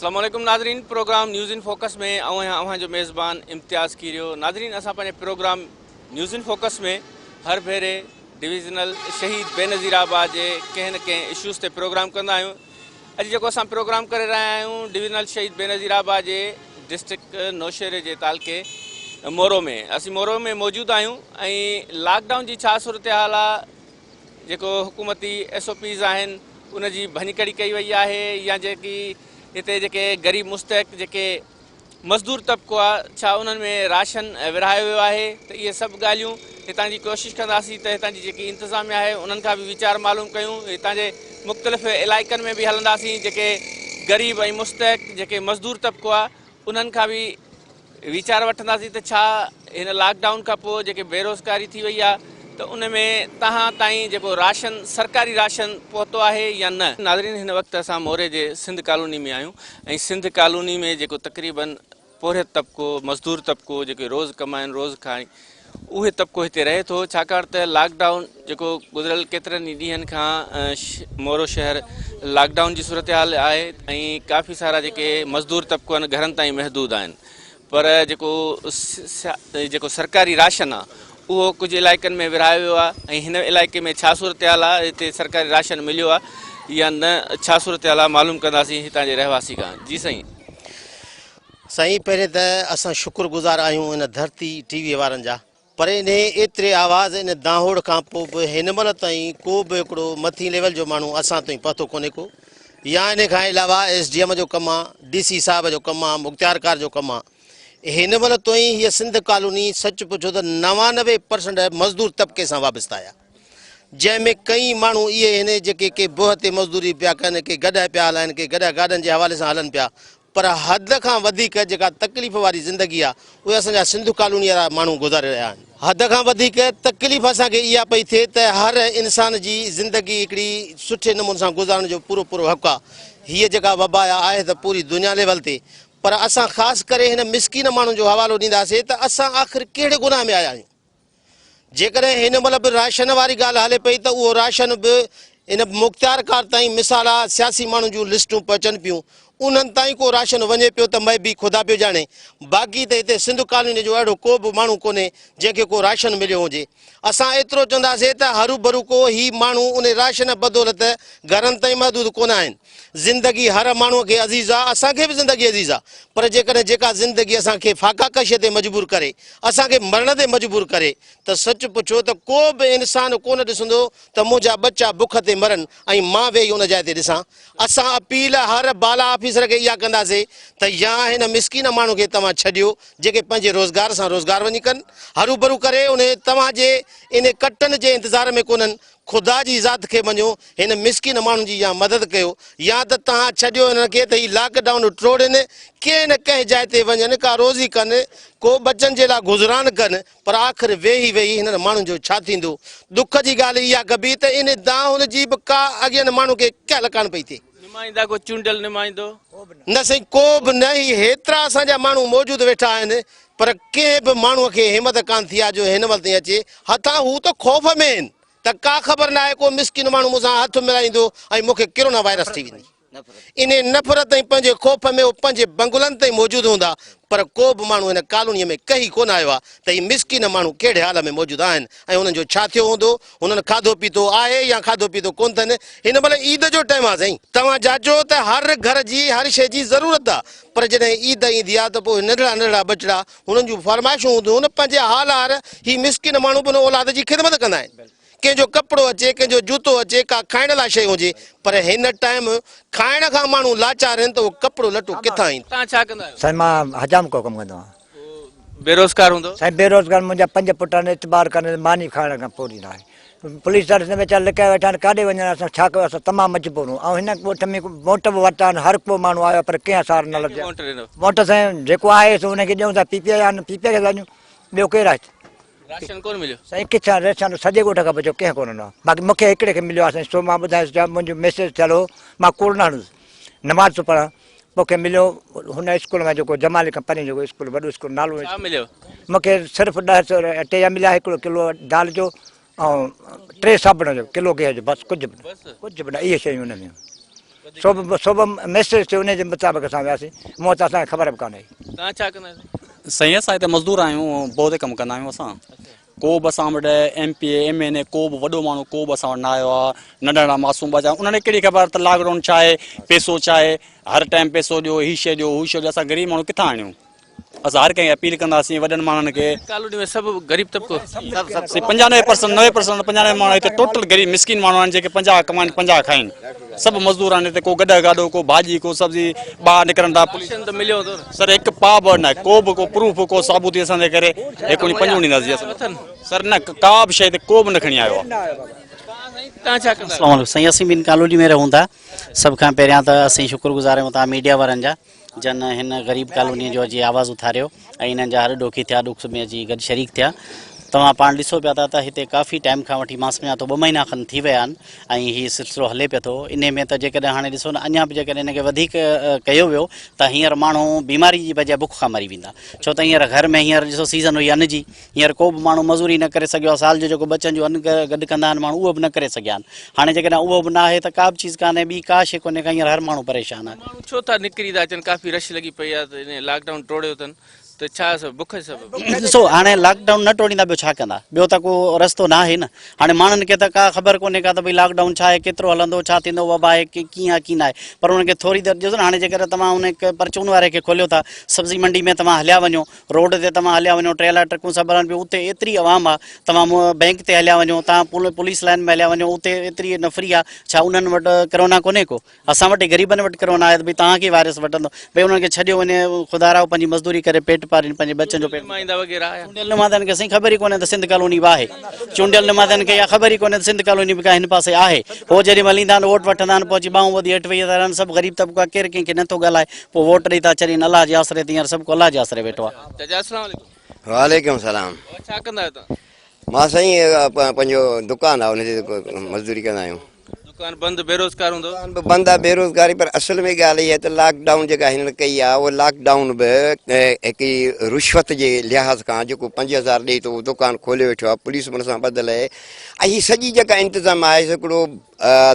السلام عليڪم ناظرين پروگرام نيوز ان فوڪس ۾ آئون آهيان اوهان جو ميزبان امتياز ڪيريو ناظرين اسان پنهنجي پروگرام نيوز ان فوڪس ۾ هر ڀيري ڊويزنل شهيد بينظير آباد جي ڪنهن نه ڪنهن اشوز تي پروگرام ڪندا آهيون اڄ جيڪو اسان پروگرام ڪري رهيا آهيون ڊويزنل شهيد بينظير آباد جي ڊسٽرڪٽ نوشهري جي تعلقي مورو ۾ اسين مورو ۾ موجود آهيون ۽ لاڪ ڊائون جي ڇا صورتحال آهي جيڪو حڪومتي ايس او پيز آهن ان جي ڀڃڪڙي ڪئي وئي آهي يا جيڪي هتي جيڪي غريب مستحق جيڪي مزدور طبقو آهي ڇا انهن ۾ راشن ورهايو ويو آهي ته اهي سڀ ڳالهيون هتان جي ڪوشش ڪنداسين ته هتان جي جيڪي انتظاميا آهي انهن کان به ويچار معلوم ڪيون هتان جي مختلف علائقن ۾ به هلنداسين جيڪي غريب ۽ مستحق جيڪي مزدور طبقو آهي انهن کان به ويچار وٺنداسين ته ڇا هن لاڪ ڊائون کان پوء جيڪي بيروزگاري ٿي وئي آهي ته ان ۾ تهان تائين جيڪو راشن سرڪاري راشن پهتو آهي يا نه. ناظرين هن وقت اسان موري جي سنڌ ڪالوني ۾ آهيون ۽ سنڌ ڪالوني ۾ جيڪو تقريبن پورهيت طبقو مزدور طبقو جيڪي روز ڪمائن روز کائن اهي طبقو هتي رهي ٿو ڇاڪاڻ ته لاڪ ڊائون جيڪو گذريل ڪيترن ئي ڏينهن کان مورو شهر لاڪ ڊائون جي صورتحال آهي ۽ ڪافي سارا جيڪي مزدور طبقو آهن گهرن تائين محدود آهن پر جيڪو جيڪو سرڪاري راشن آهي اهو ڪجهه علائقن ۾ ورهايو ويو آهي ۽ هن علائقي ۾ ڇا صورتحال آهي هتي سرڪاري راشن مليو آهي يا نه ڇا صورتحال آهي معلوم ڪنداسين هتان جي رهواسي کان جي سائين سائين پهرين ته اسان شڪر گذار آهيون ان ڌرتي ٽي وي وارن جا پر انهي ايتري آواز ان دانهوڙ کان پو به هن مهل تائين ڪو به هڪڙو مٿين ليول جو ماڻهو اسان تائين پهتو ڪونهي ڪو يا انهي کان علاوه ايس ڊي ايم جو ڪم آ ڊي سي صاحب جو ڪم آ مختيارڪار جو ڪم آ هن مهل تائين هي سنڌ ڪالوني سچ پڇو ته نوانوي پرسنٽ مزدور طبقي سان وابسته آهي جنهن ۾ ڪئي ماڻهو اهي هن جيڪي ڪي بوهه تي مزدوري پيا ڪن ڪي گڏهه پيا هلائن ڪي گڏهه گاڏن جي حوالي سان هلن پيا پر حد کان وڌيڪ جيڪا تڪليف واري زندگي آ اهي اسان جا سنڌو ڪالوني وارا ماڻهو گذاري رهيا آهن حد کان وڌيڪ تڪليف اسان کي اها پئي ٿئي ته هر انسان جي زندگي هڪڙي سٺي نموني سان گذارڻ جو پورو پورو حق آ هيء جيڪا وبا آ آهي ته پوري دنيا ليول تي پر اسان خاص ڪري هن مسڪين ماڻهن جو حوالو ڏينداسين ته اسان آخر ڪهڙي گناهه ۾ آيا آهيون. جيڪڏهن هن مهل به راشن واري ڳالهه هلي پئي ته اهو راشن به ان مختيارڪار تائين مثال آ سياسي ماڻهن جون لسٽون پهچن پيون انهن تائين ڪو راشن وڃي پيو ته ميبي خدا پيو ڄاڻي باقي ته هتي سنڌ ڪالوني جو اهڙو ڪو به ماڻهو ڪونهي جنهن کي ڪو راشن مليو هجي اسان ايترو چونداسي ته هروڀرو ڪو هي ماڻهو ان راشن بدولت گهرن تائين محدود ڪونه آهن. زندگي هر ماڻهوء کي عزيز آ، اسان کي به زندگي عزيز آ، پر جيڪڏهن جيڪا زندگي اسان کي فاقا ڪشيء تي مجبور ڪري، اسان کي مرڻ تي مجبور ڪري، ته سچ پڇو ته ڪو به انسان ڪونه ڏسندو ته منهنجا ٻچا بک تي مرن ۽ مان ويهي ان جاء تي ڏسان. اسان اپيل هر بالا آفيسر کي اها ڪنداسين ته يا هن مسڪين ماڻهو کي توهان ڇڏيو جيڪي پنهنجي روزگار سان روزگار وڃي ڪن هروڀرو ڪري انهي توهان جي انهي ڪٽن جي انتظار ۾ ڪونهن، خدا جي ذات کي مڃو، هن مسڪين ماڻهن جي يا مدد ڪيو يا ته تهان ڇڏيو هنن کي ته هي لاڪ ڊائون ٽوڙين ڪنهن نه ڪنهن جاء تي وڃن ڪا روزي ڪن ڪو ٻچن جي لاء گذران ڪن پر آخر ويهي ويهي هنن ماڻهن جو ڇا ٿيندو؟ دک جي ڳالهه اها ڪبي ته ان دانهن هن جي به ڪا اڳين ماڻهن کي ڪهل ڪانه پئي ٿئي. نمائندا ڪو چونڊيل نمائندو. نه سائين ڪو به نه هي هيترا اسان جا ماڻهو موجود ويٺا آهن پر ڪنهن به ماڻهو کي همت ڪانه ٿي آ جو هن مهل تائين اچي هتان هو ته خوف ۾ آهن ته ڪا خبر ناهي ڪو مسڪين ماڻهو مون سان هٿ ملائيندو ۽ مون کي ڪرونا وائرس ٿي ويندي انهي نفرت ۽ پنهنجي خوف ۾ هو پنهنجي بنگلن تائين موجود هوندا پر ڪو به ماڻهو هن ڪالوني ۾ ڪهي ڪونه آيو آ ته هي مسڪين ماڻهو ڪهڙي حال ۾ موجود آهن ۽ انهن جو ڇا ٿيو هوندو هنن کاڌو پيتو آهي يا کاڌو پيتو ڪونه ٿن. هن مهل عيد جو ٽيم آهي سائين. توهان جاچو ته هر گهر جي هر شيء جي ضرورت آ پر جڏهن عيد ايندي آ ته پوء هي ننڍڙا ننڍڙا ٻچڙا هنن جون فرمائشون هونديون هن پنهنجي حال هار هي مسڪين ماڻهو به هن اولاد جي خدمت ڪندا آهن ڪنهن جو ڪپڙو اچي ڪنهن جو جوتو اچي ڪا کائڻ لاء شيء هجي پر هن ٽائيم کائڻ کان ماڻهو لاچار هن ته اهو ڪپڙو لٽو ڪٿان ايندو. سائين مان حجام ڪو ڪم ڪندو آهيان. بيروزگار هوندو. سائين بيروزگار منهنجا پنج پٽ آهن اعتبار ڪن ته ماني کائڻ کان پوري نه آهي پوليس ڏانهن ڏسندي ويچارا لڪايا ويٺا آهن ڪاڏي وڃن اسان ڇا ڪيون اسان تمام مجبور آهيون ۽ هن ڳوٺ ۾ وونٽ به ورتا آهن هر ڪو ماڻهو آيو آهي پر ڪنهن اثار نه لڌي آهي وونٽ سائين جيڪو آهي سو ان کي ڏيون ٿا پي پي آئي آهن پي پي آئي کي ٿا ڏيون ٻيو ڪير آهي هتي راشن ڪونه مليو سائين ڪٿان راشن سڄي ڳوٺ کان پڇو ڪنهن ڪونه ڏنو آهي باقي مون کي هڪڙي کي مليو آهي سائين سو مان ٻڌايس جا منهنجو ميسيج ٿيل هو مان ڪوڙ نه هڻندس نماز ٿو پڙهان مون کي مليو هن اسڪول مان جيڪو جمالي کان پرين جيڪو اسڪول وڏو اسڪول نالو ڇا مليو؟ مون کي صرف ڏهه سو رپيا مليا هڪڙو ڪلو دال جو ۽ ٽي صابڻ جو ڪلو گيهه جو بس ڪجهه به نه ڪجهه به نه اهي شيون ان ۾ هيون سو به ميسيج ٿيو ان جي مطابق اسان وياسين مون وٽ اسان کي خبر به ڪانه هئي. سائين اسان هتي مزدور آهيون بوهه تي ڪم ڪندا آهيون اسان ڪو به اسان وٽ M P A M N A ڪو به وڏو ماڻهو ڪو به اسان وٽ نه آيو آ ننڍا ننڍا معصوم ٻچا انهن کي ڪهڙي خبر ته لاڪ ڊائون ڇا آهي پيسو ڇا آهي هر ٽائيم پيسو ڏيو هي شي ڏيو هو شي ڏيو اسان غريب ماڻهو ڪٿان آڻيون اسان هر ڪنهن کي اپيل ڪنداسين وڏن ماڻهن کي ڪالوني ۾ سڀ غريب طبقو پنجانوي پرسنٽ نوي پرسنٽ پنجانوي ماڻهو هتي ٽوٽل غريب مسڪين ماڻهو آهن جيڪي پنجاهه ڪمائن پنجاهه کائن سڀ مزدور آهن هتي ڪو گڏهه گاڏو ڪو ڀاڄي ڪو سبزي ٻاهر نڪرن ٿا پوليسن ته مليو ٿو سر هڪ پاء به نه ڪو به ڪو پروف ڪو ثابوتي اسان تي ڪري هڪ وڻي پنج وڻي نظر اٿن سر نه ڪا به شيء تي ڪو به نه کڻي آيو آهي اسلام عليڪم سائين اسين به ان ڪالوني ۾ رهون ٿا سڀ کان پهريان ته اسين شڪر گذار آهيون تهان ميڊيا وارن جا جن هن غريب ڪالونيء جو اچي آواز اٿاريو ۽ انهن جا هر ڏوکي ٿيا، ڏک سک ۾ اچي گڏ شريڪ ٿيا. توهان پاڻ ڏسو پيا ٿا ته هتي ڪافي ٽائيم کان وٺي مان سمجهان ٿو ٻه مهينا کن ٿي ويا آهن ۽ هي سلسلو هلي پيو ٿو. انهي ۾ ته جيڪڏهن هاڻي ڏسو نه اڃا به جيڪڏهن هن کي وڌيڪ ڪيو ويو ته هينئر ماڻهو بيماري جي بجاء بک کان مري ويندا. ڇو ته هينئر گهر ۾ هينئر ڏسو سيزن هئي ان جي. هينئر ڪو به ماڻهو مزوري نه ڪري سگهيو آهي، سال جو جيڪو ٻچن جو ان گڏ ڪندا آهن ماڻهو اهو به نه ڪري سگهيا آهن، هاڻي جيڪڏهن اهو به ناهي ته ڪا به چيز ڪانهي، ٻي ڪا شيء ڪونهي ڪا هينئر هر ماڻهو پريشان آهي. ماڻهو ڇو ٿا نڪري ٿا اچن ڪافي رش لڳي پئي آهي ته انهيء لاڪ ڊائون ٽوڙيو اٿن ته ڇا سبب بک جي سبب. ڏسو هاڻي لاڪ ڊائون نه ٽوڙيندا ٻيو ڇا ڪندا، ٻيو ته ڪو رستو ناهي نه، هاڻي ماڻهن کي ته ڪا خبر ڪونهي ڪا ته ڀئي لاڪ ڊائون ڇا آهي ڪيترو هلندو ڇا ٿيندو وبا آهي ڪي ڪيئن آهي ڪي ناهي پر انهن کي ٿوري دير ڏسو نه هاڻي جيڪڏهن توهان ان پرچون واري کي کوليو ٿا سبزي منڊي ۾ توهان هليا وڃو روڊ تي توهان هليا وڃو ٽريلا ٽرڪون سڀ هلن پيون اتي ايتري عوام آ توهان بينڪ تي هليا وڃو توهان پوليس لائن ۾ هليا وڃو اتي ايتري نفري آ ڇا انهن وٽ ڪرونا ڪونهي ڪو اسان وٽ غريبن وٽ ڪرونا آهي ته ڀي توهان کي وائرس وٽندو ڀي انهن کي ڇڏيو وڃي خدا راهو پنهنجي مزدوري ڪري پيٽ پارين پنهنجي ٻچن جو پيٽ چونڊيل نمائندن کي سائين خبر ئي ڪونهي ته سنڌ ڪالوني به آهي چونڊيل نمائندن کي اها خبر ئي ڪونهي ته سنڌ ڪالوني به ڪا هن پاسي آهي هو جيڏي مهل ايندا آهن ووٽ وٺندا آهن پوء اچي ٻانهون ٻڌي هيٺ ويهي رهندا آهن سڀ غريب طبقو آ ڪير ڪنهن کي نٿو ڳالهائي پوء ووٽ ڏئي ٿا ڇڏين الله جي آسري تي هينئر سڀڪو الله جي آسري ويٺو آ. چاچا السلام عليڪم. وعليڪم سلام. بابا ڇا ڪندا آهيو توهان. مان سائين پنهنجو دڪان آ ان تي مزدوري ڪندا آهيون. دڪان بند بيروزگار هوندو. دڪان به بند آ بيروزگاري پر اصل ۾ ڳالهه اها ته لاڪ ڊائون جيڪا هنن ڪئي آ اهو لاڪ ڊائون به هڪ رشوت جي لحاظ کان جيڪو پنج هزار ڏئي ٿو دڪان کولي ويٺو آ پوليس به ان سان ٻڌل اهي ۽ هي سڄي جيڪا انتظام آهي هڪڙو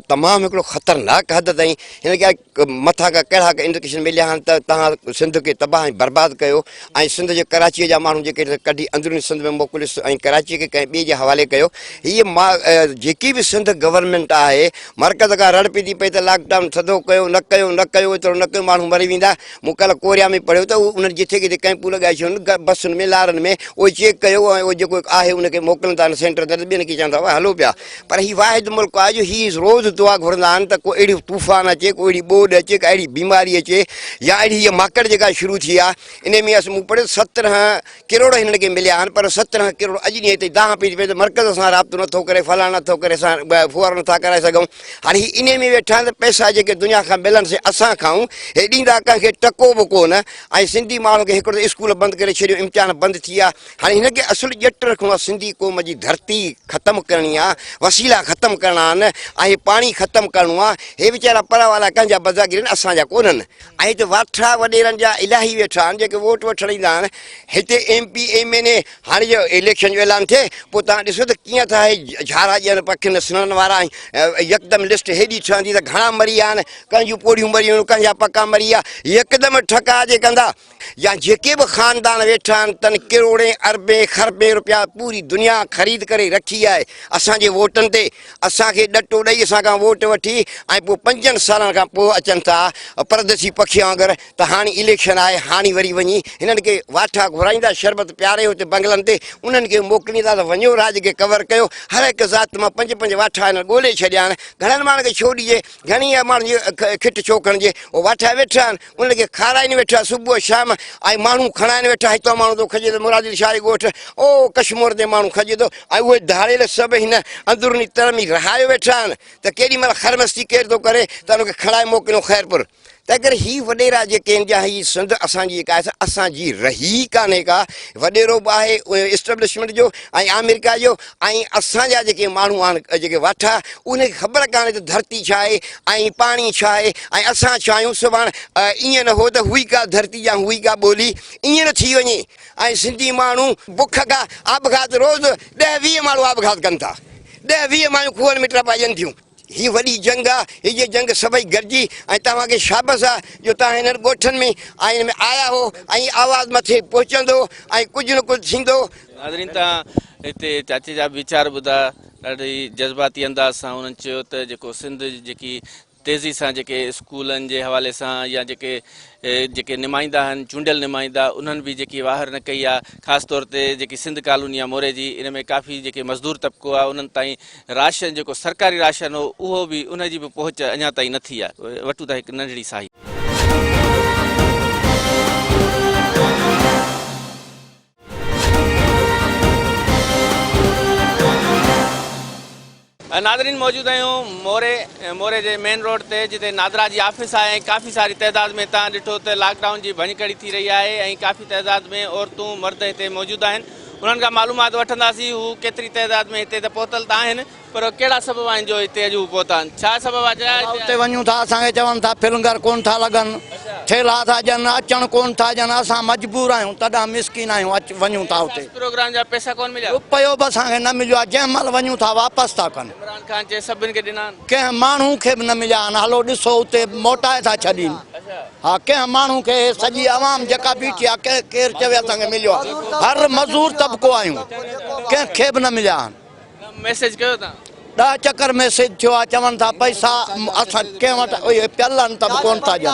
تمام هڪڙو خطرناڪ حد تائين هن کي مٿان کان ڪهڙا انڊڪيشن مليا آهن ته تهان سنڌ کي تباهه ۽ برباد ڪيو ۽ سنڌ جي ڪراچي جا ماڻهو جيڪي ڪڍي اندروني سنڌ ۾ موڪليس ۽ ڪراچي کي ڪنهن ٻئي جي حوالي ڪيو هي جيڪي به سنڌ گورنمينٽ آهي مرڪز کان رڙ پئي ٿي پئي ته لاڪ ڊائون ٿڌو ڪيو نه ڪيو نه ڪيو ايترو نه ڪيو ماڻهو مري ويندا مون ڪل ڪوريا ۾ پڙهيو ته انهن جٿي ڪٿي ڪئمپون لڳائي ڇڏيون بسن ۾ لارن ۾ اهو چيڪ ڪيو ۽ اهو جيڪو آهي ان کي موڪلن ٿا سينٽر تي ٻين کي چون ٿا هلو پيا پر هي واحد ملڪ آهي جو هي روز دعا گهرندا آهن ته ڪو اهڙي طوفان اچي ڪو اهڙي ٻوڏ اچي ڪا اهڙي بيماري اچي يا اهڙي هيء ماڪڙ جيڪا شروع ٿي آهي انهي ۾ اسان مون پڙهيو سترهن ڪروڙ هنن کي مليا آهن پر سترهن ڪروڙ اڄ ڏينهن تائين دانهن پئي پئي ته مرڪز سان رابطو نٿو ڪري فلاڻ نٿو ڪري اسان ڦوهارو نٿا ڪرائي سگهون هاڻي هي انهي ۾ ويٺا آهن ته پئسا جيڪي دنيا کان ملن سي اسان کائون هي ڏيندا ڪنهن کي ٽڪو به ڪونه ۽ سنڌي ماڻهن کي هڪڙو ته اسڪول بند ڪري ڇڏيو امتحان بند ٿي ويا هاڻي هن کي اصل ڄٽ رکڻو آهي سنڌي قوم جي ڌرتي ختم ڪرڻي آهي وسيلا ختم ڪرڻا آهن ۽ پاڻي ختم ڪرڻو آهي هي ويچارا پرا وارا ڪنهن جا بزاگر آهن اسان جا ڪونهن ۽ هتي واٺرا وڏيرن جا الاهي ويٺا آهن جيڪي ووٽ وٺڻ ايندا آهن هتي M P M N A هاڻي جو اليڪشن جو اعلان ٿئي پوء تان ڏسو ته ڪيئن ٿا هي جھارا ڄڻ پکين سنن وارا يڪدم لسٽ هيڏي ٺهندي ته گھڻا مري ويا آهن ڪنهن جون پوڙهيون مريون ڪنهن جا پکا مري ويا يڪدم ٺڪا جي ڪندا يا جيڪي به خاندان ويٺا آهن تن ڪروڙين اربين خربين روپيا پوري دنيا خريد ڪري رکي آهي اسان جي ووٽن تي اسان کي ڏٽو ڏئي اسان کان ووٽ وٺي ۽ پوء پنجن سالن کان پوء اچن ٿا پرديسي پکين وانگر ته هاڻي اليڪشن آهي هاڻي وري وڃي هنن کي واٺا گهرائيندا شربت پياري اتي بنگلن تي انهن کي موڪليندا ته وڃو راڄ کي ڪور ڪيو هر هڪ ذات مان پنج پنج واٺا هنن ڳولي ڇڏيا آهن گهڻن ماڻهن کي ڇو ڏجي گهڻي ماڻهن جي کٽ ڇو کڻجي هو واٺا ويٺا آهن ان کي کارائين ويٺا صبح شام ۽ ماڻهو کڻائين ويٺا هتان ماڻهو ٿو کڄي ته مراد علي شاهه جي ڳوٺ او ڪشمور تي ماڻهو کڄي ٿو ۽ اهي ڌاڙيل سڀ هن اندروني تر ۾ رهايو ويٺا آهن ته ڪيڏي مهل خرمستي ڪير ٿو ڪري ته ان کي کڻائي موڪليون خيرپور تنهن ڪري هي وڏيرا جيڪي آهن جا هي سنڌ اسان جي جيڪا آهي اسان جي رهي ڪانهي ڪا وڏيرو به آهي اسٽبلشمنٽ جو ۽ آمريڪا جو ۽ اسان جا جيڪي ماڻهو آهن جيڪي واٺا انهن کي خبر ڪانهي ته ڌرتي ڇا آهي ۽ پاڻي ڇا آهي ۽ اسان ڇا آهيون سڀاڻ ائين نه هو ته هئي ڪا ڌرتي يا هئي ڪا ٻولي ائين نه ٿي وڃي ۽ سنڌي ماڻهو بک کان آپگهات روز ڏهه ويهه ماڻهو آپگهات ڪن ٿا ڏهه ويهه مايون کوهن ۾ ٽپائجن ٿيون. هي وڏي جنگ آ هيء جنگ سڀئي گڏجي ۽ توهان کي شابس آ جو توهان هنن ڳوٺن ۾ آئين ۾ آيا هو ۽ هي آواز مٿي پهچندو ۽ ڪجهه نه ڪجهه ٿيندو. ناظرين توهان هتي چاچي جا به ويچار ٻڌا ڏاڍي جذباتي انداز سان انهن چيو ته جيڪو سنڌ جيڪي تيزي سان جيڪي اسڪولن جي حوالي سان يا جيڪي جيڪي نمائندا آهن چونڊيل نمائندا انهن به جيڪي واهر نه ڪئي آ خاص طور تي جيڪي سنڌ ڪالوني آ موري جي ان ۾ ڪافي جيڪي مزدور طبقو آ انهن تائين راشن جيڪو سرڪاري راشن هو اهو به ان جي به پهچ اڃا تائين نه ٿي آهي وٽون ته هڪ ننڍڙي ساهي. ناظرين موجود آهيون موري موري جي مين روڊ تي جتي نادرا جي آفيس آهي ۽ ڪافي ساري تعداد ۾ تان ڏٺو ته لاڪ ڊائون جي ڀڃڪڙي ٿي رهي آهي ۽ ڪافي تعداد ۾ عورتون مرد هتي موجود آهن انهن کان معلومات وٺنداسين هو ڪيتري تعداد ۾ هتي ته پهتل ته آهن پر ڪهڙا سبب آهن جو هتي اڄ هو پهتا آهن ڇا سبب آهي جو اسان اتي وڃون ٿا اسان کي چون ٿا ڦلنگر ڪونه ٿا لڳن ٿيلها ٿا ڏين اچڻ ڪونه ٿا ڏين اسان مجبور آهيون تڏهن مسڪين آهيون اچ وڃون ٿا اتي احساس پروگرام جا پئسا ڪونه مليا روپيو به اسان کي نه مليو آهي جنهن مهل وڃون ٿا واپس ٿا ڪن عمران خان چئي سڀن کي ڏنا آهن ڪنهن ماڻهو کي به نه مليا آهن هلو ڏسو اتي موٽائي ٿا ڇڏين ها ڪنهن ماڻهو کي سڄي عوام جيڪا بيٺي آهي ڪنهن ڪير چوي اسان کي مليو آهي هر مزور طبقو آهيون ڪنهن کي به نه مليا آهن ميسج ڪيو تان. ڏهه چڪر ميسج ٿيو آهي چون ٿا پئسا اسان ڪنهن وٽ اهي پيل آهن ته به ڪونه ٿا ڏين.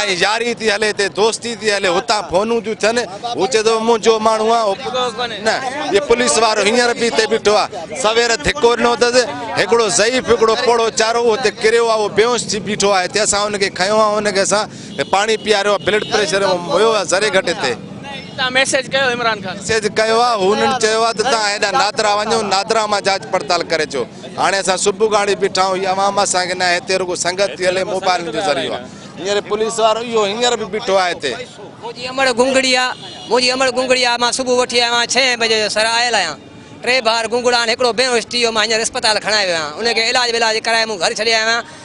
ائين ياري ٿي هلي تي دوستي ٿي هلي هتان فونون ٿيون ٿين هو چئي ٿو منهنجو ماڻهو آ نه هي پوليس وارو هينئر به هتي بيٺو آ سوير ڌڪو ڏنو اٿس هڪڙو ضعيف هڪڙو پوڙهو چارو هو هتي ڪريو آ اهو بيهوش ٿي بيٺو آ هتي اسان ان کي کنيو آ ان کي اسان پاڻي پياريو آ بلڊ پريشر هيو آ ذري گهٽ هتي تان ميسيج ڪيو عمران خان ميسيج ڪيو آ هنن چيو آ ته تان هيڏا نادرا وڃو نادرا مان جاچ پڙتال ڪري اچو هاڻي اسان صبح کان اڙي بيٺا آهيون هي عوام اسان کي ناهي هتي رڳو سنگت ٿي هلي موبائلن جو ذريعو آهي هينئر پوليس وارو اهو هينئر به بيٺو آهي هتي. منهنجي امڙ گونگڙي آ منهنجي امڙ گونگڙي آ مان صبح وٺي آيو آهيان ڇهين بجي جو سر آيل آهيان ٽي ٻار گونگڙا آهن هڪڙو بيهوش ٿي ويو مان هينئر اسپتال کڻائي ويو آهيان ان کي علاج ولاج ڪرائي مون گهر ڇڏي آيو آهيان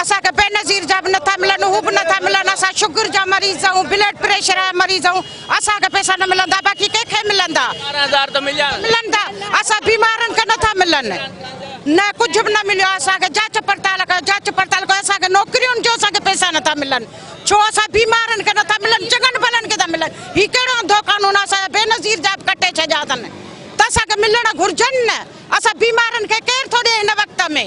اسان کي بينظير جا به نٿا ملن هو به نٿا ملن اسان شگر جا مريض آهيون بلڊ پريشر جا مريض آهيون اسان کي پئسا نه ملندا باقي ڪنهن کي ملندا ملندا اسان بيمارن کي نٿا ملن نه ڪجهه به نه مليو اسان کي جاچ پڙتال ڪيو جاچ پڙتال ڪيو اسان کي نوڪريون جو اسان کي پئسا نٿا ملن ڇو اسان بيمارن کي نٿا ملن چڱن ڀلن کي ٿا ملن هي ڪهڙو انڌو قانون آهي اسان بينظير جا به ڪٽي ڇڏيا اٿن ته اسان کي ملڻ گهرجن نه اسان بيمارن کي ڪير ٿو ڏي هن وقت ۾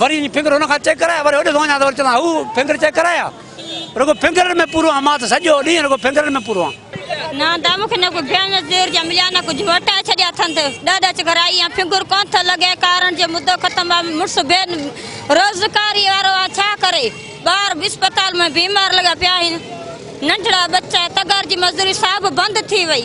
وري وڃي فنگر ان کان چيڪ ڪرايا وري هوڏي ٿو وڃان ته وري چوندو هو فنگر چيڪ ڪرايا رڳو فنگرن ۾ پورو آهيان مان ته سڄو ڏينهن رڳو فنگرن ۾ پورو آهيان. نه دا مون کي نه ڪو بيان زير جا مليا نه ڪجهه وٽائي ڇڏيا اٿن ته ڏهه ڏچ گهرائي يا فنگر ڪونه ٿو لڳي ڪارڻ جي مدو ختم آ مڙس بي روزگاري وارو آ ڇا ڪري ٻار به اسپتال ۾ بيمار لڳا پيا آهن ننڍڙا ٻچا تگار جي مزدوري سا به بند ٿي وئي.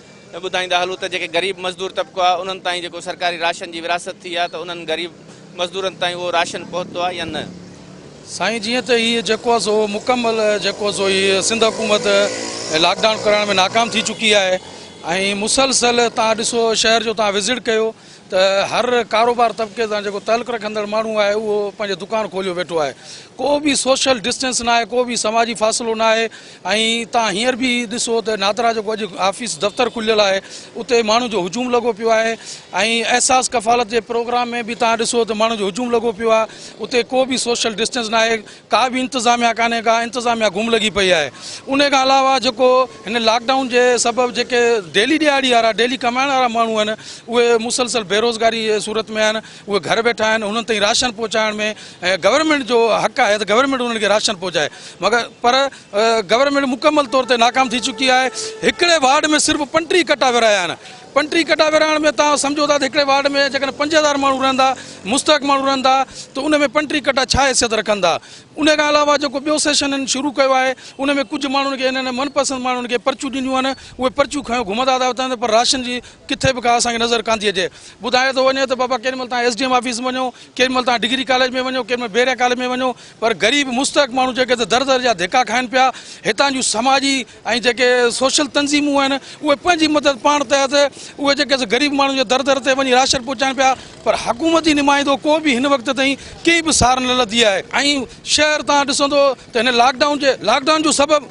ته ٻڌائيندا هلون ته جيڪي غريب مزدور طبقو آهي انهن تائين جيڪو سرڪاري راشن جي ورهاست ٿي آهي ته انهن غريب مزدورن تائين اهو راشن پهتو آهي يا نه؟ سائين جيئن ته هي جيڪو آهي سو مڪمل جيڪو آهي سو هي سنڌ حڪومت لاڪ ڊائون ڪرائڻ ۾ ناڪام ٿي چڪي آهي ۽ مسلسل تان ڏسو شهر جو تان وزٽ ڪيو ته هر ڪاروبار طبقي سان جيڪو تعلق رکندڙ ماڻهو آهي اهو پنهنجو دڪان کوليو ويٺو آهي ڪو به سوشل ڊسٽنس ناهي ڪو به سماجي فاصلو ناهي ۽ تان هينئر به ڏسو ته نادرا جيڪو اڄ آفيس دفتر کليل آهي اتي ماڻهن جو هجوم لڳو پيو آهي ۽ احساس ڪفالت جي پروگرام ۾ به تان ڏسو ته ماڻهن جو هجوم لڳو پيو آهي اتي ڪو به سوشل ڊسٽنس نه آهي ڪا به انتظاميا ڪانهي ڪا انتظاميا گم لڳي پئي آهي ان کان علاوه جيڪو هن لاڪ ڊائون جي سبب جيڪي ڊيلي ڏهاڙي وارا ڊيلي ڪمائڻ وارا ماڻهو آهن اهي مسلسل بيروزگاري جي صورت ۾ آهن اهي گهر ويٺا آهن انهن تائين راشن پهچائڻ ۾ گورنمينٽ جو حق آهي ته گورنمينٽ انهن کي راشن پهچائي مگر پر گورنمينٽ مڪمل طور تي ناڪام ٿي چڪي آهي هڪڙي وارڊ ۾ صرف پنٽيهه ڪٽا ورهايا آهن پنٽيهه ڪٽا ورهائڻ ۾ تان سمجهو ٿا ته هڪڙي وارڊ ۾ جيڪڏهن پنج هزار ماڻهو رهندا مستحق ماڻهو رهندا ته ان ۾ پنٽيهه ڪٽا ڇا حيثيت رکندا ان کان علاوه جيڪو ٻيو سيشن هن شروع ڪيو آهي ان ۾ ڪجهه ماڻهن کي هنن من پسند ماڻهن کي پرچيون ڏنيون آهن اهي پرچيون کنيو گهمندا ٿا وتن پر راشن جي ڪٿي به ڪا اسان کي نظر ڪانٿي اچي ٻڌايو ٿو وڃي ته بابا ڪيڏي مھل تھان ايس ڊي ايم آفيس ۾ وڃو ڪيڏي مھل تھان ڊگري ڪاليج ۾ وڃو ڪيڏي مھل بحريا ڪاليج ۾ وڃو پر غريب مستحق ماڻھو جيڪي ته در در جا ڌڪا کائن پيا ھتان جون سماجي ۽ جيڪي سوشل تنظيمون آھن اھي پنھنجي مدد پاڻ تحت اھي جيڪي سا غريب ماڻھو جي در در تي وڃي راشن پھچائن پيا پر حڪومتي نمائندو ڪو به ھن وقت تائين ڪنھن به سار نه لڌي آھي ۽ شھر تھان ڏسندو ته هن لاڪ ڊائون جي لاڪ ڊائون جو سبب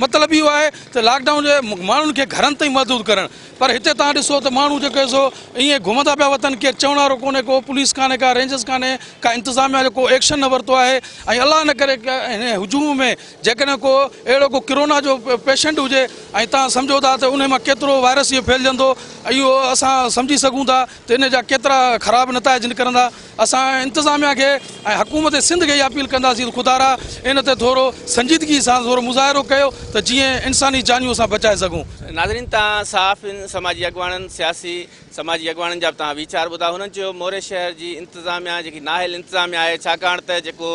مطلب اهو آهي ته لاڪ ڊائون جي ماڻهن کي گهرن تائين محدود ڪرڻ پر هتي تان ڏسو ته ماڻهو جيڪو آهي سو ائين گهمندا پيا وتن ڪير چوڻ وارو ڪونهي ڪو پوليس ڪانهي ڪا رينجرس ڪانهي ڪا انتظاميا جو ڪو ايڪشن نه ورتو آهي ۽ الله نه ڪري هن هجوم ۾ جيڪڏهن ڪو اهڙو ڪو ڪرونا جو پيشنٽ هجي ۽ تان سمجهو ٿا ته ان مان ڪيترو وائرس اهو ڦهلجندو اهو اسان سمجهي سگهون ٿا ته ان جا ڪيترا خراب نتائج نڪرندا اسان انتظاميا کي ۽ حڪومت سنڌ کي اها اپيل ڪنداسين ته خدارا ان تي ٿورو سنجيدگي سان ٿورو مظاهرو ڪيو ته جيئن انساني جانيون اسان بچائي سگهون. ناظرين تان صحافين سماجي اڳواڻن سياسي سماجي اڳواڻن جا به تان ويچار ٻڌا هنن چيو موري شهر جي انتظاميا جيڪي نااهل انتظاميا آهي ڇاڪاڻ ته جيڪو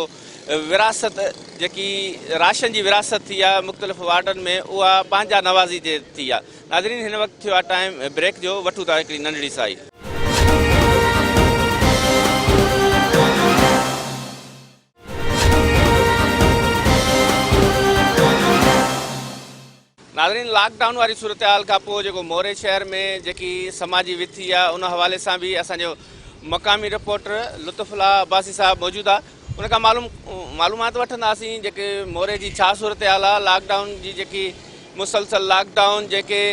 وراثت جيڪي راشن جي وراثت ٿي آهي مختلف وارڊن ۾ اها پنهنجا نوازي جي ٿي آهي ناظرين هن وقت ٿيو آهي ٽائيم بريڪ جو وٺون ٿا هڪڙي ننڍڙي سائي. ناظرين لاڪ ڊائون واري صورتحال کان پوء جيڪو موري شهر ۾ جيڪي سماجي وٿي آهي ان حوالي سان به اسان جو مقامي رپورٽر لطف الله عباسي صاحب موجود آهي. ان کان معلومات وٺنداسين جيڪي موري جي ڇا صورتحال آهي لاڪ ڊائون جي جيڪي مسلسل لاڪ ڊائون جيڪي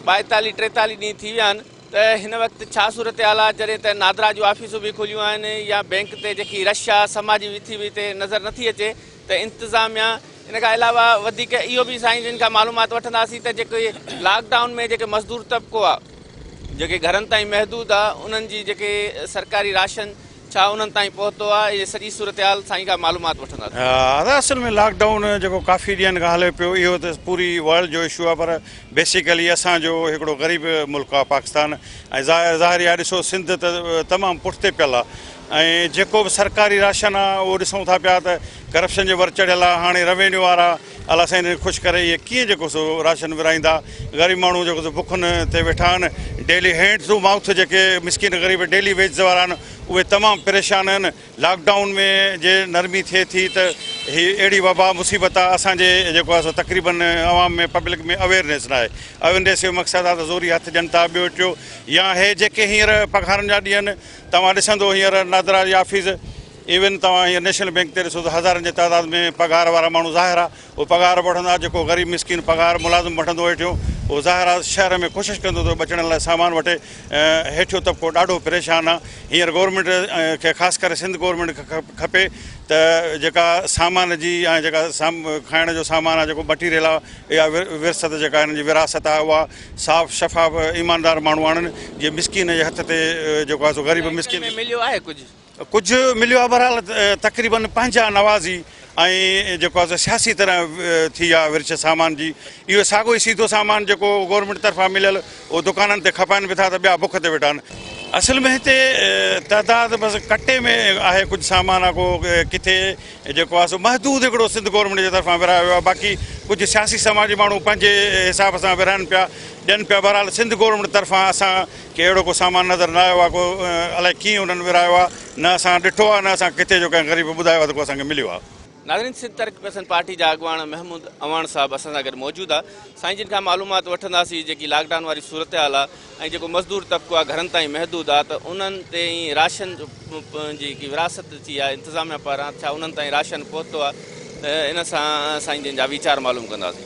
ٻائيتاليهه ٽيتاليهه ڏينهن ٿي ويا آهن ته هن وقت ڇا صورتحال آهي جڏهن ته نادرا جون آفيسون به کليون آهن يا بئنڪ تي جيڪي رش آهي سما جي ويٿي به هتي نظر نٿي اچي ته انتظاميا ان کان علاوه وڌيڪ اهو به سائين جن کان معلومات وٺنداسين ته جيڪي لاڪ ڊائون ۾ جيڪي مزدور طبقو آهي جيڪي گهرن تائين محدود آهي انهن جي جيڪي سرڪاري راشن ڇا انهن تائين پهتو آهي ۽ سڄي صورتحال سائين کان معلومات وٺنداسين. ادا اصل ۾ لاڪ ڊائون جيڪو ڪافي ڏينهن کان هلي پيو اهو ته پوري ورلڊ جو اشو آهي پر بيسيڪلي اسان جو هڪڙو غريب ملڪ آهي پاڪستان ۽ ظاهري آهي ڏسو سنڌ ته تمام پٺتي پيل آهي ۽ جيڪو به سرڪاري راشن آهي اهو ڏسون ٿا پيا ته ڪرپشن جو ور چڙهيل آهي هاڻي روينيو وارا الله سائين انهن کي خوش ڪري اهي ڪيئن جيڪو سو راشن ورهائيندا غريب ماڻهو جيڪو سو بکن تي ويٺا آهن ڊيلي هينڊ ٽو مائوٿ جيڪي مسڪين غريب ڊيلي ويجز وارا آهن اهي تمام پريشان آهن لاڪ ڊائون ۾ جي نرمي ٿئي ٿي ته هي اهڙي وبا مصيبت آهي اسان جي جيڪو آهي سو تقريبا عوام ۾ پبلڪ ۾ اويرنيس ناهي اويرنيس جو مقصد آهي ته زوري هٿ ڏين ٿا ٻيو ٽيو يا هي جيڪي هينئر پگهارن جا ڏينهن آهن توهان ڏسندو هينئر نادرا جي آفيس ايون توهان هينئر نيشنل بينڪ تي ڏسو ته هزارن جي تعداد ۾ پگهار وارا ماڻهو ظاهر آ اهي پگهار به وٺندا جيڪو غريب مسڪين پگهار ملازم وٺندو هيٺيون اهو ظاهر آ شهر ۾ ڪوشش ڪندو ته ٻچڙن لاء سامان وٺي هيٺيون طبقو ڏاڍو پريشان آ هينئر گورنمينٽ کي خاص ڪري سنڌ گورنمينٽ کي کپي ته جيڪا سامان جي ۽ جيڪا کائڻ جو سامان آ جيڪو مٽيريل آ يا ورثت جيڪا هنن جي وراثت آ اها صاف شفاف ايماندار ماڻهو آڻن جي مسڪين جي هٿ تي جيڪو آ سو غريب مسڪين مليو آهي ڪجهه. ڪجهه مليو آهي بهرحال تقريباً پنهنجا نوازي ۽ جيڪو آهي سو سياسي طرح ٿي آهي ورڇ سامان جي اهو ساڳو ئي سيڌو سامان جيڪو گورنمينٽ طرفان مليل اهو دڪانن تي کپائن به ٿا ته ٻيا بک تي ويٺا آهن اصل ۾ هتي تعداد بس ڪٽي ۾ آهي ڪجهه سامان آ ڪو ڪٿي جيڪو آهي سو محدود هڪڙو سنڌ گورنمينٽ جي طرفان ورهايو ويو آهي باقي ڪجهه سياسي سماجي ماڻهو پنهنجي حساب سان ورهائن پيا ڏين پيا بهرحال سنڌ گورنمينٽ طرفان اسان کي اهڙو ڪو سامان نظر نه آيو آهي ڪو الائي ڪيئن انهن ورهايو آهي نه اسان ڏٺو آهي نه اسان کي ڪٿي جو ڪنهن غريب ٻڌايو آهي ته ڪو اسان کي مليو آهي. ناظرين سنڌ ترقي پسند پارٽي جا اڳواڻ محمود اعواڻ صاحب اسان سان گڏ موجود آ سائين جن کان معلومات وٺنداسين جيڪي لاڪ ڊائون واري صورتحال آ ۽ جيڪو مزدور طبقو آ گهرن تائين محدود آ ته انهن تي راشن جي وراثت ٿي آ انتظاميا پاران ڇا انهن تائين راشن پهتو آ ان سان سائين جن جا ويچار معلوم ڪنداسين.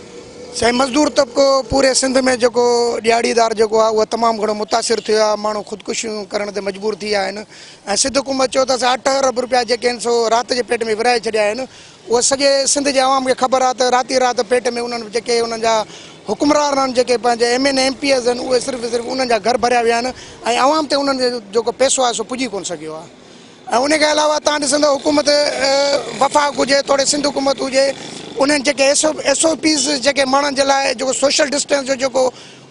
سائين مزدور طبقو پوري سنڌ ۾ جيڪو ڏيھاڙيدار جيڪو آ اھو تمام گھڻو متاثر ٿيو آ ماڻھو خودڪشيون ڪرڻ تي مجبور ٿي ويا آھن ۽ سڌ حڪومت چيو ته اسان اٺ ارب روپيا جيڪي آھن سو رات جي پيٽ ۾ ورھائي ڇڏيا آھن اھو سڄي سنڌ جي عوام کي خبر آ ته رات ئي رات پيٽ ۾ انھن جيڪي انھن جا حڪمران آھن جيڪي پنھنجي M N A M P As آھن اھي صرف صرف انھن جا گھر ڀريا ويا آھن ۽ عوام تي انھن جو جيڪو پيسو آ سو پڄي ڪون سگھيو آ. ۽ ان کان علاوه توهان ڏسندؤ حڪومت وفاق هجي توڙي سنڌ حڪومت هجي انهن جيڪي ايس ايس او پيز جيڪي ماڻهن جي لاء جيڪو سوشل ڊسٽينس جو جيڪو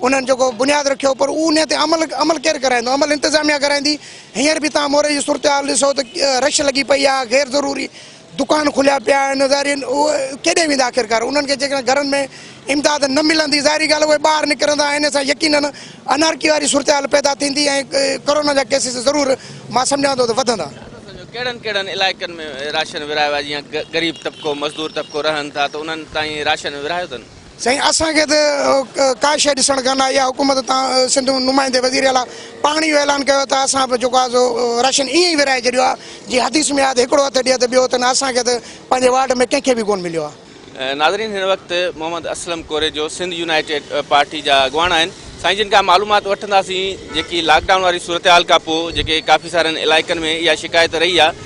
انهن جيڪو بنياد رکيو پر ان تي عمل عمل ڪير ڪرائيندو عمل انتظاميا ڪرائيندي هينئر به توهان موري جي صورتحال ڏسو ته رش لڳي پئي آهي غير ضروري دڪان کليا پيا آهن ظاهرين اهي ڪيڏي ويندا آخرڪار انهن کي جيڪڏهن گهرن ۾ امداد نه ملندي ظاهري ڳالهه اهي ٻاهر نڪرندا ۽ انهي سان يقينن انارڪي واري صورتحال پيدا ٿيندي ۽ ڪورونا جا ڪيسز ضرور مان سمجهان ٿو ته وڌندا. ڪهڙن ڪهڙن علائقن ۾ راشن ورهايو آهي جيئن غريب طبقو مزدور طبقو رهن ٿا ته انهن تائين راشن ورهايو اٿن؟ سائين اسان کي ته ڪا شيء ڏسڻ ڪانه آئي آ حڪومت تان سنڌ نمائندي وزير اعليٰ پاڻ اهو اعلان ڪيو ته اسان به جيڪو آ سو راشن ائين ئي ورهائي ڇڏيو آ جيئن حديث ۾ آ ته هڪڙو هٿ ڏي ته ٻيو هٿ نه اسان کي ته پنهنجي وارڊ ۾ ڪنهن کي به ڪونه مليو آ. ناظرين هن وقت محمد اسلم ڪوريجو سنڌ يونائيٽيڊ پارٽي جا اڳواڻ آهن سائين جن کان معلومات وٺنداسين جيڪي لاڪ ڊائون واري صورتحال کان پوء جيڪي ڪافي سارن علائقن ۾ اها شڪايت رهي آ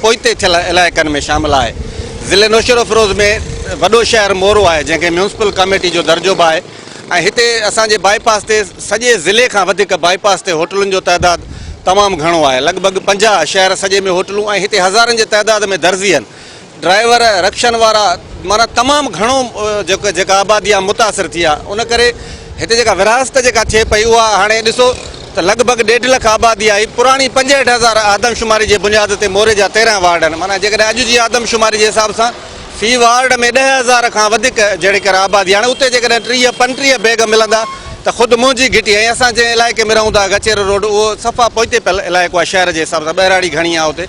پوئتي ٿيل علائقن ۾ شامل آهي. ضلعي نوشهروفيروز ۾ وڏو شهر مورو آهي جنهن کي ميونسپل ڪاميٽي جو درجو به آهي ۽ هتي اسان جي بائي پاس تي سڄي ضلعي کان وڌيڪ بائي پاس تي هوٽلن جو تعداد تمام گهڻو آهي لڳ ڀڳ پنجاهه شهر سڄي ۾ هوٽلون ۽ هتي هزارن جي تعداد ۾ درزين ڊرائيور رڪشن وارا معنيٰ تمام گهڻو جيڪو جيڪا آبادي آهي متاثر ٿي آهي ان ڪري هتي جيڪا ورهاست جيڪا ٿئي پئي اها هاڻي ڏسو ته لڳ ڀڳ ڏيڍ لک آبادي آهي، پراڻي پنجهٺ هزار آدمشماري جي بنياد تي موري جا تيرنهن وارڊ آهن، معنيٰ جيڪڏهن اڄ جي آدمشماري جي حساب سان في وارڊ ۾ ڏهه هزار کان وڌيڪ جهڙيڪر آبادي آهي، هاڻي اتي جيڪڏهن ٽيهه پنٽيهه بيگ ملندا ته خود منهنجي گهٽي ۽ اسان جنهن علائقي ۾ رهون ٿا گچيرو روڊ اهو صفا پوئتي پيل علائقو آهي شهر جي حساب سان ٻهراڙي گهڻي آهي اتي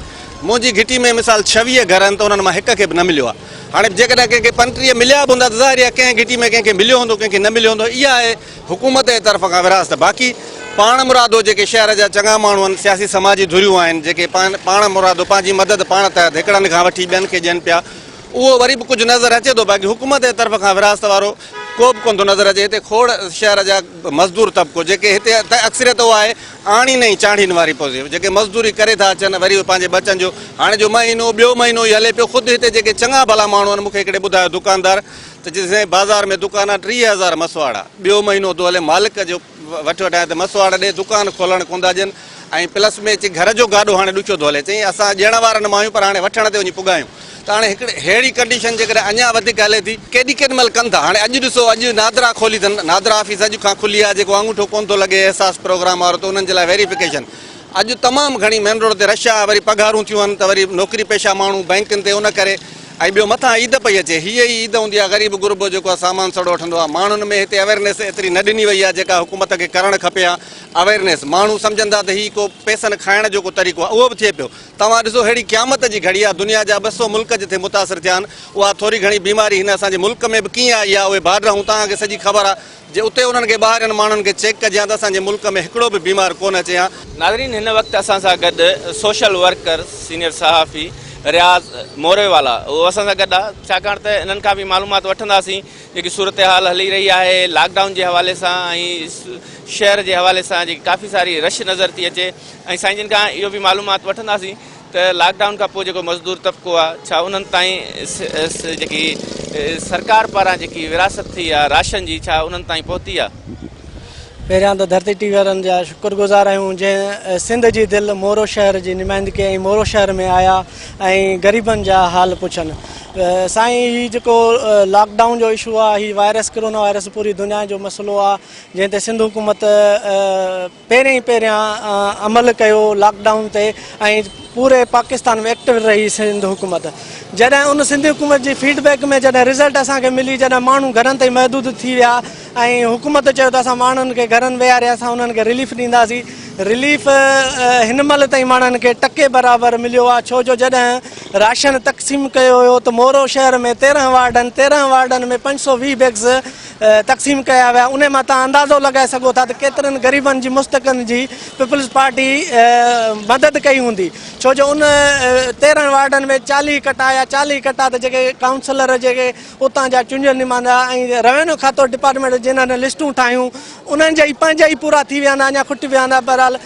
منهنجي گهٽي ۾ مثال ڇويهه گهر آهن ته انهن مان هڪ کي به نه مليو آهي هاڻي جيڪڏهن ڪنهن کي پنٽيهه مليا به هوندا ته ظاهر آهي ڪنهن گهٽي ۾ ڪنهن کي مليو هوندو ڪنهن کي نه مليو هوندو اها آهي حڪومت جي طرف کان ورهاست باقي پاڻمرادو جيڪي شهر جا چڱا ماڻهو آهن سياسي سماجي ڌريون آهن جيڪي پاڻمرادو پنهنجي مدد پاڻ تحت هڪڙن کان وٺي ٻين کي ڏين پيا اهو وري به ڪجهه نظر اچي ٿو باقي حڪومت جي طرف کان ورهاست وارو ڪو به ڪونه ٿو نظر اچي هتي کوڙ شهر جا مزدور طبقو جيڪي هتي اڪثريت اهو آهي آڻين ۽ چانڙين واري پوزيو جيڪي مزدوري ڪري ٿا اچن وري پنهنجي ٻچن جو هاڻي جو مهينو ٻيو مهينو ئي هلي پيو خود هتي جيڪي چڱا ڀلا ماڻهو آهن مون کي هڪڙي ٻڌايو دڪاندار ته چيس سائين بازار ۾ دڪان آ ٽيهه هزار مسواڙا ٻيو مهينو ٿو هلي مالڪ جو وٺ وٺايان ته مسواڙا ڏي دڪان کولڻ ڪون ٿا ڏين ۽ پلس ۾ چي گهر جو گاڏو هاڻي ڏکيو ٿو هلي چيائين اسان ڏيڻ وارا نه مايون پر هاڻي وٺڻ تي وڃي پڳايون ته هاڻي هڪڙي ههڙي ڪنڊيشن جيڪڏهن اڃا وڌيڪ هلي ٿي ڪيڏي ڪيڏي مهل ڪن ٿا هاڻي اڄ ڏسو اڄ نادرا کولي اٿن نادرا آفيس اڄ کان کلي آ جيڪو آڱوٺو ڪون ٿو لڳي احساس پروگرام وارو ته انهن جي لاء ويريفڪيشن اڄ تمام گهڻي مين روڊ تي رش آ وري پگهارون ٿيون آهن ته وري نوڪري پيشه ماڻهو بئنڪن تي ان ڪري ۽ ٻيو مٿان عيد پئي اچي هيء ئي عيد هوندي آهي غريب غربو جيڪو سامان سڙو وٺندو آهي ماڻهن ۾ هتي اويرنيس ايتري نه ڏني وئي آهي جيڪا حڪومت کي ڪرڻ کپي ها اويرنيس ماڻهو سمجهن ٿا ته هي ڪو پيسن کائڻ جو ڪو طريقو آهي اهو به ٿئي پيو توهان ڏسو ههڙي قيامت جي گهڙي آهي دنيا جا ٻه سؤ ملڪ جتي متاثر ٿيا آهن اها ٿوري گهڻي بيماري هن اسان جي ملڪ ۾ به ڪيئن آئي آهي اهي بارڊر هون توهان کي سڄي خبر آهي جي اتي انهن کي ٻاهرين ماڻهن کي چيڪ ڪجي ها ته اسان جي ملڪ ۾ هڪڙو به بيمار ڪونه اچي ها. ناظرين هن وقت اسان سان گڏ سوشل ورڪر سينيئر صحافي رياض موريوالا اهو اسان سان گڏ آ ڇاڪاڻ ته انهن کان به معلومات وٺنداسين جيڪي صورتحال هلي رهي آهي لاڪ ڊائون جي حوالي سان ۽ شهر جي حوالي سان جيڪي ڪافي ساري رش نظر ٿي اچي ۽ سائين جن کان اهو به معلومات وٺنداسين ته لاڪ ڊائون کان پوء جيڪو مزدور طبقو آهي ڇا انهن تائين جيڪي سرڪار پاران جيڪي ورهاست ٿي آهي راشن جي ڇا انهن تائين پهتي آهي؟ پهريان ته ڌرتي ٽي وي وارن جا شڪر گذار آهيون جنهن سنڌ جي دل مورو شهر جي نمائندگي ۽ مورو شهر ۾ آيا ۽ غريبن جا حال پڇن سائين هي جيڪو لاڪ ڊائون جو اشو آهي هي وائرس ڪرونا وائرس پوري دنيا جو مسئلو آهي جنهن تي سنڌ حڪومت پهرين ئي پهريان عمل ڪيو لاڪ ڊائون تي ۽ پوري پاڪستان ۾ ايڪٽو رهي سنڌ حڪومت جڏهن ان سنڌ حڪومت جي فيڊ بيڪ ۾ جڏهن رزلٽ اسان کي ملي جڏهن ماڻهو گهرن تائين محدود ٿي ويا ۽ حڪومت چيو ته اسان ماڻهن کي گهرن ويهاري اسان انهن کي رليف ڏينداسين رليف هن مهل تائين ماڻهن کي ٽڪي برابر مليو آهي ڇو جو جڏهن راشن تقسيم ڪيو هيو ته مورو شهر ۾ تيرهن وارڊن تيرهن وارڊن ۾ پنج سو ويهه بيگز تقسيم ڪيا ويا انهي مان توهان اندازو لڳائي سگهو ٿا ته ڪيترن غريبن جي مستحقن جي پيپلز پارٽي مدد ڪئي هوندي ڇو جو ان تيرهن وارڊن ۾ چاليهه ڪٽا يا چاليهه ڪٽا ته جيڪي ڪائونسلر جيڪي اتان جا چونجن نمائندا ۽ روينيو کاتو ڊپارٽمينٽ جنهن لسٽون ٺاهيون انهن جا ئي پنهنجا ئي پورا ٿي ويا هوندا اڃا کٽي ويا هوندا بهرحال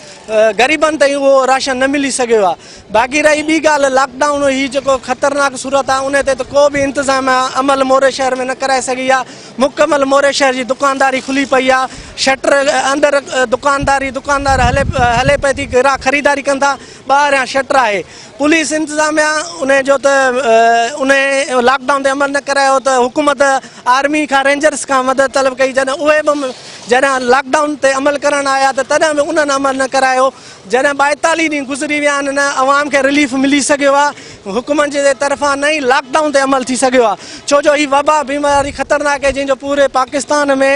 غريبن تائين اهو راشن نه ملي سگهيو آهي باقي رهي ٻي ڳالهه لاڪ ڊائون هي جيڪو خطرناڪ صورت آهي ان تي ته ڪو به انتظام عمل موري شهر ۾ نه ڪرائي سگهي آهي مڪمل موري شهر جي دڪانداري کلي پئي آهي شٽر اندر دڪانداري دڪاندار هلي هلي پئي ٿي گراهڪ خريداري ڪن ٿا ٻاهريان شٽر آهي پوليس انتظاميا ان جو ته ان لاڪ ڊائون تي عمل نه ڪرايو ته حڪومت آرمي کان رينجرس کان مدد طلب ڪئي جڏهن اهي به جڏهن لاڪ ڊائون تي عمل ڪرڻ آيا ته تڏهن به انهن عمل نه ڪرايو جڏهن ٻائيتاليهه ڏينهن گذري ويا آهن نه عوام کي رليف ملي سگهيو آهي حڪومت جي طرفان نه ئي لاڪ ڊائون تي عمل ٿي سگهيو آهي ڇو جو هي وبا بيماري خطرناڪ آهي جنهن جو پوري پاڪستان ۾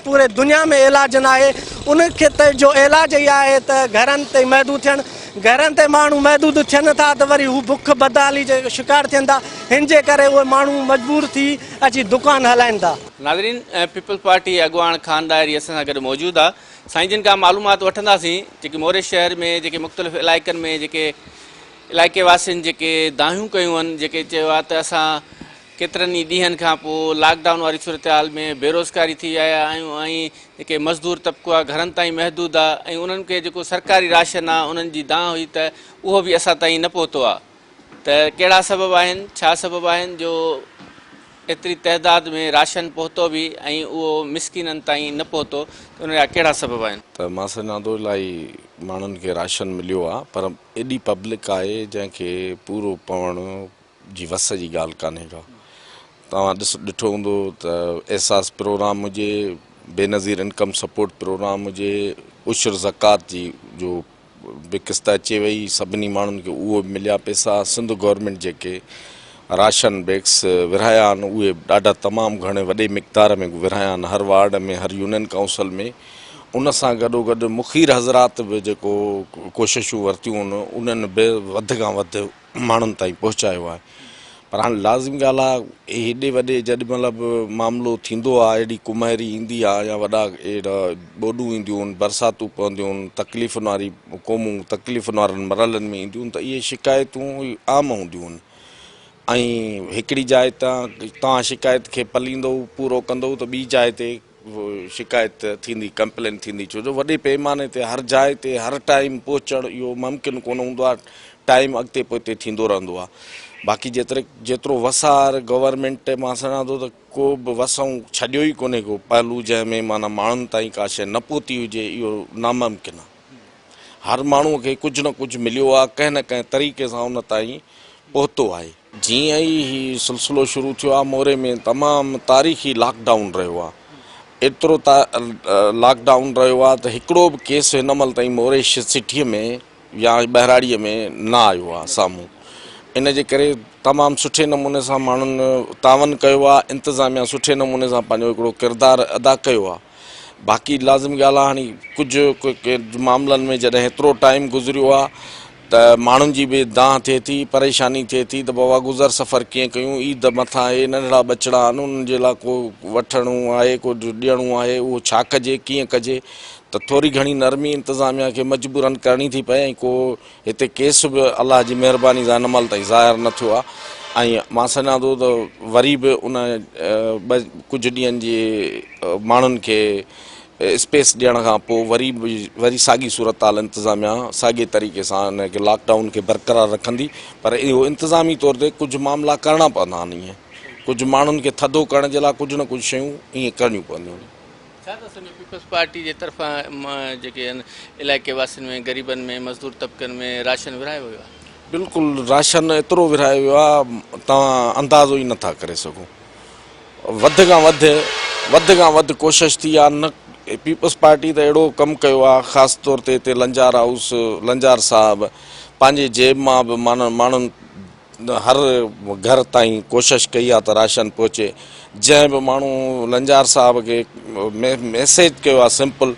پوري دنيا ۾ علاج نه آهي ان کي ته جو علاج ئي آهي ته گهرن تي محدود ٿين گهرن تي ماڻهو محدود ٿين ٿا ته وري هو بک بدحالي جي شڪار ٿين ٿا هن جي ڪري اهي ماڻهو مجبور ٿي اچي دڪان هلائين ٿا. ناظرين پيپلز پارٽي اڳواڻ خان ڏاهري اسان سان گڏ موجود آ. سائين جن کان معلومات وٺنداسين جيڪي موري شهر ۾ جيڪي مختلف علائقن ۾ جيڪي علائقي واسين جيڪي دانهيون ڪيون هن جيڪي چيو آهي ته اسان ڪيترن ئي ڏينهن کان پوء لاڪ ڊائون واري صورتحال ۾ بيروزگاري ٿي آيا آهيون ۽ جيڪي مزدور طبقو آهي گهرن تائين محدود آهي ۽ انهن کي جيڪو سرڪاري راشن آهي انهن جي دانهن هئي ته اهو به اسان تائين نه پهتو آهي ته ڪهڙا سبب آهن، ڇا سبب آهن جو ايتري تعداد ۾ راشن پهتو به ۽ اهو مسڪينن تائين نه پهتو ته ان جا ڪهڙا سبب آهن. ته مان سمجهان ٿو الاهي ماڻهن کي راشن مليو آهي پر ايڏي پبلڪ آهي جنهن کي پورو پوڻ جي وس جي ڳالهه ڪانهي ڪا توهان ڏٺو هوندو ته احساس پروگرام هجي بينظير انڪم سپورٽ پروگرام هجي عشر زڪوات جي جو به قسط اچي وئي سڀني ماڻهن کي اهو به مليا پيسا سنڌ گورنمينٽ جيڪي راشن بيگس ورهايا آهن اهي ڏاڍا تمام گهڻي وڏي مقدار ۾ ورهايا آهن هر وارڊ ۾ هر يونين ڪائونسل ۾ ان سان گڏو گڏ مخير حضرات به جيڪو ڪوششون ورتيون انهن به وڌ کان وڌ ماڻهن تائين پهچايو آهي پر هاڻي لازمي ڳالهه آهي هيڏي وڏي جڏهن مهل به معاملو ٿيندو آهي هيڏي ڪمهري ايندي آهي يا وڏا اهڙا ٻوڏون اينديون آهن برساتون پونديون آهن تڪليفن واري قومون تڪليفن وارن مرحلن ۾ اينديون ته اهي شڪايتون عام هونديون آهن ۽ هڪڙي جاء تان توهان شڪايت کي پليندو پورو ڪندو ته ٻي جاء تي شڪايت ٿيندي، ڪمپلين ٿيندي، ڇو جو وڏي پيماني تي هر جاء تي هر ٽائيم پهچڻ اهو ممڪن ڪونه هوندو آهي، ٽائيم اڳتي پوئتي ٿيندو رهندو آهي، باقي جيتري جيترو وسار گورنمينٽ مان سڃان ٿو ته ڪو به وسائون ڇڏيو ئي ڪونهي ڪو پهلو جنهن ۾ معنيٰ ماڻهن تائين ڪا شيء نه پهتي هجي اهو ناممڪن آهي، هر ماڻهوء کي ڪجهه نه ڪجهه مليو آهي ڪنهن نه ڪنهن طريقي سان ان تائين پهتو آهي. جيئن ئي هي سلسلو شروع ٿيو آهي موري ۾ تمام تاريخي لاڪ ڊائون رهيو آهي ايترو لاڪ ڊائون رهيو آهي ته هڪڙو به ڪيس هن مهل تائين موري سٽي ۾ يا ٻهراڙي ۾ نه آيو آهي سامهون ان جي ڪري تمام سٺي نموني سان ماڻهن تعاون ڪيو آهي انتظاميا سٺي نموني سان پنهنجو هڪڙو ڪردار ادا ڪيو آهي باقي لازمي ڳالهه آهي هاڻي ڪجهه ڪجهه معاملن ۾ جڏهن هيترو ٽائيم گذريو آهي ته ماڻهن جي به دانهن ٿئي ٿي، پريشاني ٿئي ٿي ته بابا گذر سفر ڪيئن ڪيون، عيد مٿان اهي ننڍڙا ٻچڙا آهن انهن جي لاء ڪو وٺڻو آهي ڪو ڏيڻو آهي اهو ڇا ڪجي ڪيئن ڪجي ته ٿوري گهڻي نرمي انتظاميا کي مجبورا ڪرڻي ٿي پئي ۽ ڪو هتي ڪيس به الله جي مهرباني سان هن مهل تائين ظاهر نه ٿيو آهي ۽ مان سمجهان ٿو ته وري به ان ڪجهه ڏينهن جي ماڻهن کي اسپيس ڏيڻ کان پوء وري به وري ساڳي صورتحال انتظاميا ساڳي طريقي سان ان کي لاڪ ڊائون کي برقرار رکندي پر اهو انتظامي طور تي ڪجهه معاملا ڪرڻا پوندا آهن ائين ڪجهه ماڻهن کي ٿڌو ڪرڻ جي لاء ڪجهه نه ڪجهه شيون ائين ڪرڻيون پونديون آهن. ڇا ٿا سمجهو پيپلز پارٽي جي طرفان جيڪي آهن علائقي واسين ۾ غريبن ۾ مزدور طبقن ۾ راشن ورهايو ويو آهي؟ بلڪل راشن ايترو ورهايو ويو آهي توهان اندازو ئي نه ٿا ڪري سگهو وڌ کان وڌ وڌ کان وڌ ڪوشش ٿي آ نه پيپلز پارٽي ته اهڙو ڪم ڪيو آ خاص طور تي هتي لنجار هائوس لنجار صاحب پنهنجي جيب مان به معنيٰ ماڻهن هر گهر تائين ڪوشش ڪئي آ ته راشن پهچي جنهن به ماڻهو لنجار صاحب کي ميسيج ڪيو آ سمپل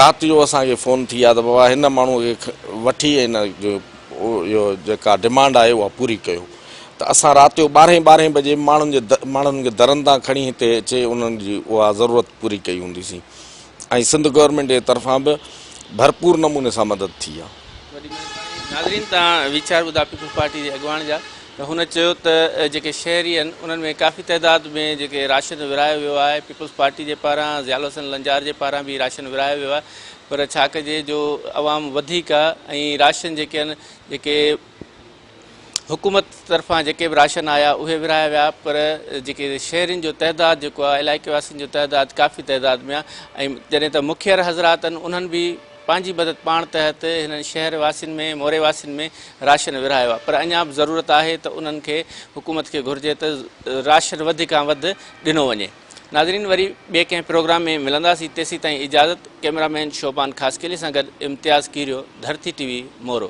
رات جو اسان کي فون ٿي آ ته بابا هن ماڻهو کي وٺي هن جو اهو جيڪا ڊمانڊ آهي اها پوري ڪيو ته اسان رات جو ٻارهين ٻارهين بجي ماڻهن جي ماڻهن کي درن تان کڻي هتي اچي انهن جي اها ضرورت پوري ڪئي هوندي سين ۽ سنڌ گورنمينٽ جي طرفان به ڀرپور نموني سان مدد ٿي آهي. وڏي مهرباني ناظرين تان ويچار ٻڌا پيپلز پارٽي جي اڳواڻ جا ته هن چيو ته جيڪي شهري آهن انهن ۾ ڪافي تعداد ۾ جيڪي راشن ورهايو ويو آهي پيپلز پارٽي جي پاران ضياء الحسن لنجار جي پاران به راشن ورهايو ويو آهي پر ڇا ڪجي جو عوام وڌيڪ آهي ۽ راشن جيڪي آهن جيڪي حڪومت طرفان جيڪي به راشن آيا اهي ورهايا ويا پر جيڪي شهرين جو تعداد جيڪو آهي علائقي واسين جو تعداد ڪافي تعداد ۾ آهي ۽ جڏهن ته مکير حضرات آهن انهن به پنهنجي مدد پاڻ تحت هنن شهر واسين ۾ موري واسين ۾ راشن ورهايو آهي پر اڃا به ضرورت آهي ته انهن کي حڪومت کي گهرجي ته راشن وڌ کان وڌ ڏنو وڃي ناظرين وري ٻئي ڪنهن پروگرام ۾ ملنداسين تيسين تائين اجازت ڪئميرا مين شعبان خاصخيلي سان گڏ امتياز ڪيريو ڌرتي ٽي وي مورو